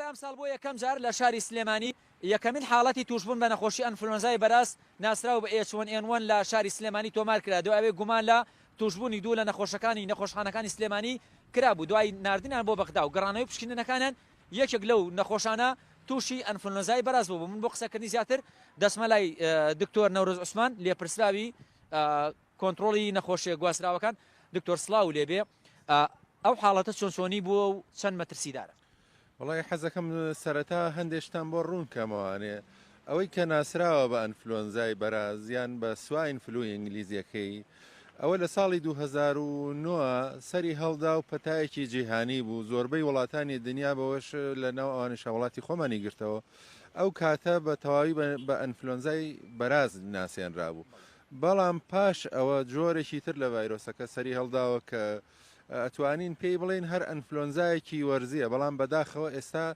ئەمساڵ بۆ یەکەم جار لە شاری سلێمانی یەکەمین حاڵەتی تووشبوون بە نەخۆشی ئەنفلۆنزای بەراز ناسراو بە ئێچ وەن ئێن وەن لە شاری سلێمانی تۆمار کرا دوای ئەوەی گومان لە تووشبوونی دوو لە نەخۆشەکانی نەخۆشخانەکانی سلێمانی کرابوو دوای ناردنیان بۆ بەغدا و گەڕانەوەی پشکنینەکانیان یەکێک لەو نەخۆشانە تووشی ئەنفلۆنزای بەراز بوو من بۆ قسەکردنی زیاتر دەسمە لای دکتۆر نەورۆز عوسمان لێپرسراوی کۆنتترۆڵی نەخۆشیە گواستراوەکان دکتۆر سلااو لێبێ ئەو حاڵەتە چۆن چۆنی بووە و چەند مەترسیدارە وەڵای حەزەکەم سەرەتا هەندێک شتان بۆ ڕوون کەمەوە ئەنێ ئەوەی کە ناسراوە بە ئەنفلۆنزای بەراز یان بە سواین فلوی ئینگلیزیەکەی ئەوە لە ساڵی 2009 سەری هەڵدا و پەتایەکی جیهانی بوو زۆربەی وڵاتانی دنیا بەوەش لە ناو ئەوانیش وڵاتی خۆمانی گرتەوە ئەو کاتە بە تەواوی بە ئەنفلۆنزای بەراز ناسێنرابوو بەڵام پاش ئەوە جۆرێکی تر لە ڤایرۆسەکە سەری هەڵداوە کە ئەتوانین پێی بڵێین هەر ئەنفلۆنزایەکی وەرزیە بەڵام بەداخەوە ئێستا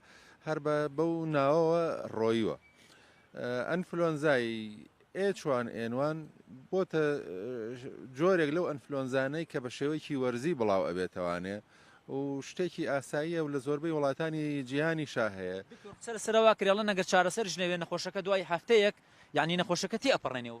هەر بە بەو ناوەوە ڕۆیوە ئەنفلۆنزای ئێچوان ئێنوان بۆتە جۆرێک لەو ئەنفلۆنزانەی کە بە شێوەیەکی وەرزی بڵاو ئەبێتەوانێ و شتێکی ئاساییە و لە زۆربەی وڵاتانی جیهانی شاهەیە سەر سەروا کرێڵە نەگەر چارەسەر ژنەوێ نەخۆشەکە دوای هەفتەیەک یعنی نەخۆشەکە تێ ئەپەڕێنێ و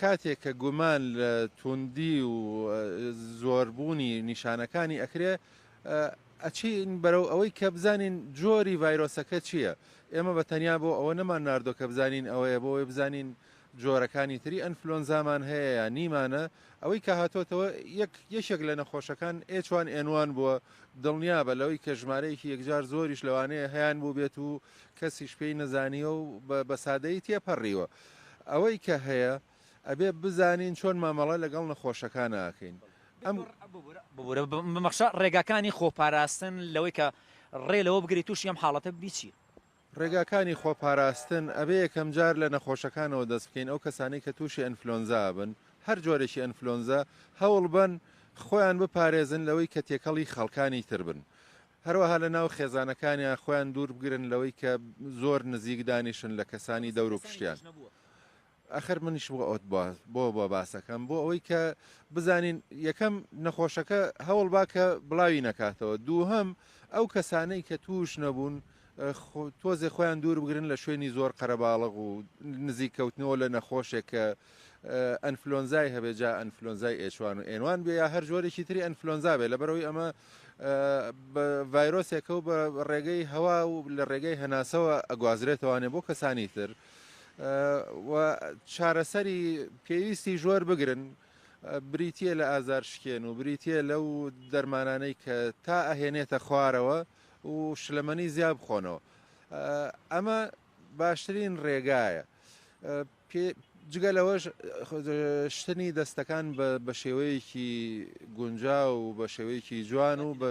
کاتێک کە گومان لە توندی و زۆربوونی نیشانەکانی ئەکرێ ئەچین بەرەو ئەوەی کە بزانین جۆری ڤایرۆسەکە چییە ئێمە بە تەنیا بۆ ئەوە نەمان نردۆ کە بزانین ئەوەیە بۆی بزانین جۆرەکانی تری ئەنفلۆنزامان هەیە یا نیمانە ئەوەی کە هاتۆتەوە یەک یەکێک لە نەخۆشەکان ئێچوان ئێنوان بووە دڵنیابە لەوەی کە ژمارەیەکی یەکجار زۆریش لەوانەیە هەیان بوو بێت و کەسیش پێی نەزانیوە و بە سادەیی تێپەڕیوە. ئەوەی کە هەیە ئەبێ بزانین چۆن مامەڵە لەگەڵ نەخۆشەکانا ئەکەین. ئەم. ببورە بمەخشە ڕێگاکانی خۆپاراستن لەوەی کە ڕێ لەوە بگری تووشی ئەم حاڵەتە ببی چییە؟ ڕێگاکانی خۆپاراستن، ئەبێ یەکەم جار لە نەخۆشەکانەوە دەست بکەین، ئەو کەسانەی کە تووشی ئەنفلۆنزا ئەبن، هەر جۆرێکی ئەنفلۆنزا، هەوڵ بەن خۆیان بپارێزن لەوەی کە تێکەڵی خەڵکانی تر بن. هەروەها لە ناو خێزانەکانیان خۆیان دوور بگرن لەوەی کە زۆر نزیک دانیشن لە کەسانی دەور و پشتیان. ئەخەر منیش بۆ ئەوت بۆ بۆ بۆ باسەکەم بۆ ئەوەی کە بزانین یەکەم نەخۆشەکە هەوڵ با کە بڵاوی نەکاتەوە دووهەم ئەو کەسانەی کە توش نەبوون تۆزێ خۆیان دوور بگرن لە شوێنی زۆر قەرەباڵغ و نزیک کەوتنەوە لە نەخۆشێک کە ئەنفلۆنزای هەبێت جا ئەنفلۆنزای ئێچوان و ئێنوان بێ یا هەر جۆرێکی تری ئەنفلۆنزا بێ لەبەرەوەی ئەمە ڤایرۆسێکە و بە ڕێگەی هەوا و لە ڕێگەی هەناسەوە ئەگوازرێتەوانێ بۆ کەسانی تر و چارەسەری پێویستی ژۆر بگرن بریتە لە ئازار شکێن و بریتە لەو دەرمانانەی کە تا ئەهێنێتە خوارەوە و شلەمەنی زیاب بخۆنەوە ئەمە باشترین ڕێگایە پێ، جگە لەوەش شتنی دەستەکان بە شێوەیەکی گونجاو و بە شێوەیەکی جوان و بە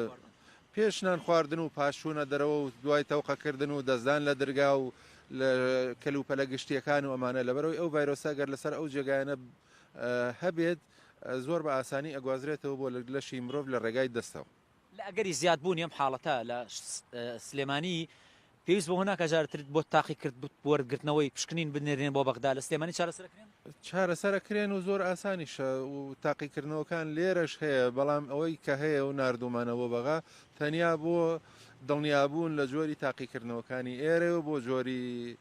پێش نان خواردن و پاش چوونە دەرەوە و دوای تەوقەکردن و دەستدان لە درگا و لە کەلوپەلە گشتیەکان و ئەمانە لەبەرەوەی ئەو ڤایرۆسە گەر لەسەر ئەو جێگایانە هەبێت زۆر بە ئاسانی ئەگوازرێتەوە بۆ لەشی مرۆڤ لە ڕێگای دەستەوە. لە ئەگەری زیادبوونی ئەم حاڵەتە لە سلێمانی، پێویست بەوە ناکات جار تر بۆ تاقیکرد بۆ وەرگرتنەوەی پشکنین بنێرێن بۆ بەغدا، لە سلێمانی چارەسەر ئەکرێن؟ چارەسەر ئەکرێن و زۆر ئاسانیشە و تاقیکردنەوەکان لێرەش هەیە، بەڵام ئەوەی کە هەیە و ناردوومانە بۆ بەغا تەنیا بۆ دڵنیابوون لە جۆری تاقیکردنەوەکانی ئێرەیە و بۆ جۆری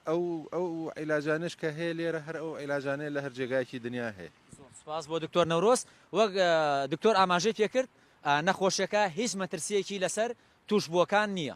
ئەو عیلاجانەش کە هەیە لێرە هەر ئەو عیلاجانەیە لە هەر جێگایەکی دنیا هەیە. زۆر سوپاس بۆ دکتۆر نەورۆز. وەک دکتۆر ئاماژەی پێکرد نەخۆشیەکە هیچ مەترسیەکی لەسەر توشبووەکان نییە.